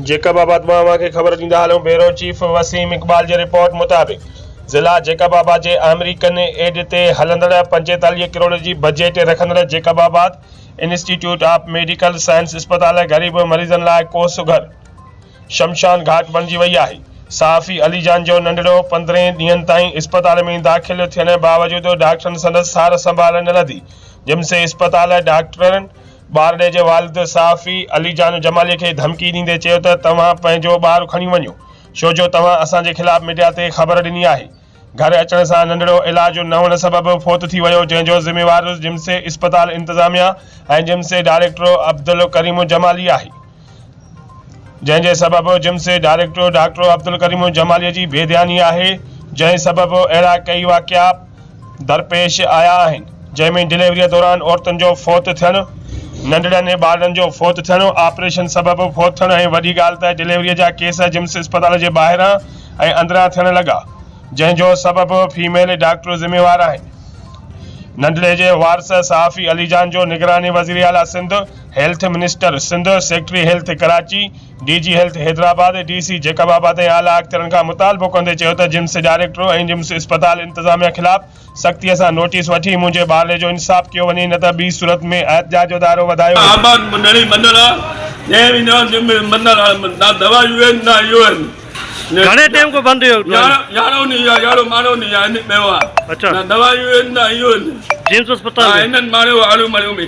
Jacob آباد مان اوهان کي خبر ڏيندا هلون بيورو چيف وسيم اقبال جي رپورٽ مطابق ضلع جيڪب آباد جي آمريڪن ايڊ تي هلندڙ پنجيتاليهه ڪروڙ جي بجيٽ رکندڙ Jacobabad institute of medical science اسپتال غريب مريضن لاء ڪو سگهر شمشان گهاٽ بڻجي وئي آهي صحافي علي جان جو ننڍڙو پندرهن ڏينهن تائين اسپتال ۾ داخل ٿيڻ باوجود ڊاڪٽرن سندس سار سنڀال نه لڌي جمسي اسپتال ڊاڪٽرن ٻارڙي جي والد صحافي علي جان جمالي کي ڌمڪي ڏيندي چيو ته توهان پنهنجو ٻار کڻي وڃو ڇو جو توهان اسان جي خلاف ميڊيا تي خبر ڏني آهي. گهر اچڻ سان ننڍڙو علاج نه هئڻ سبب فوت ٿي ويو جنهن جو ذميوار جمسي اسپتال انتظاميا ۽ جمسي ڊائريڪٽر عبدالڪريم جمالي آهي. جنهن جي سبب جمس جي ڊائريڪٽر ڊاڪٽر عبدالڪريم الجمالي جي بي ڌياني آهي، جنهن سبب اهڙا ڪيئي واقعا درپيش آيا آهن، جنهن ۾ ڊليوريء دوران عورتن جو فوت ٿيڻ، ننڍڙن ۽ ٻارڙن جو فوت ٿيڻ، آپريشن سبب فوت ٿيڻ ۽ وڏي ڳالهه ته ڊليوريء جا ڪيس جمس اسپتال جي ٻاهران ۽ اندران ٿيڻ لڳا، جنهن جو سبب فيميل ڊاڪٽر ذميوار آهن. ننڍڙي جي وارث صحافي علي جان جو نگران وزيراعليٰ Sindh, health minister Sindh, secretary health Karachi, D G health Hyderabad, D C Jacobabad ۽ اعليٰ اختيارن کان مطالبو ڪندي چيو ته جمس ڊائريڪٽر ۽ جمس اسپتال انتظاميا خلاف سختي سان نوٽيس وٺي منهنجي ٻارڙي جو انصاف ڪيو وڃي نه ته ٻي صورت ۾ احتجاج جو دائرو وڌايو ويندو. آباد منهڙي بندر آ جنهن وي نيو جم مي بندر آ نا دوا يو اين نا يو اين گهڻي ٽيم کان بند رهيو يارهون ڏينهن يا يارهون ماڻهو ڏينهن آهن پيو آ نا دوا يو اين نا يو اين جمس اسپتال هنن ماڻهيو آڙو مڙيو مي.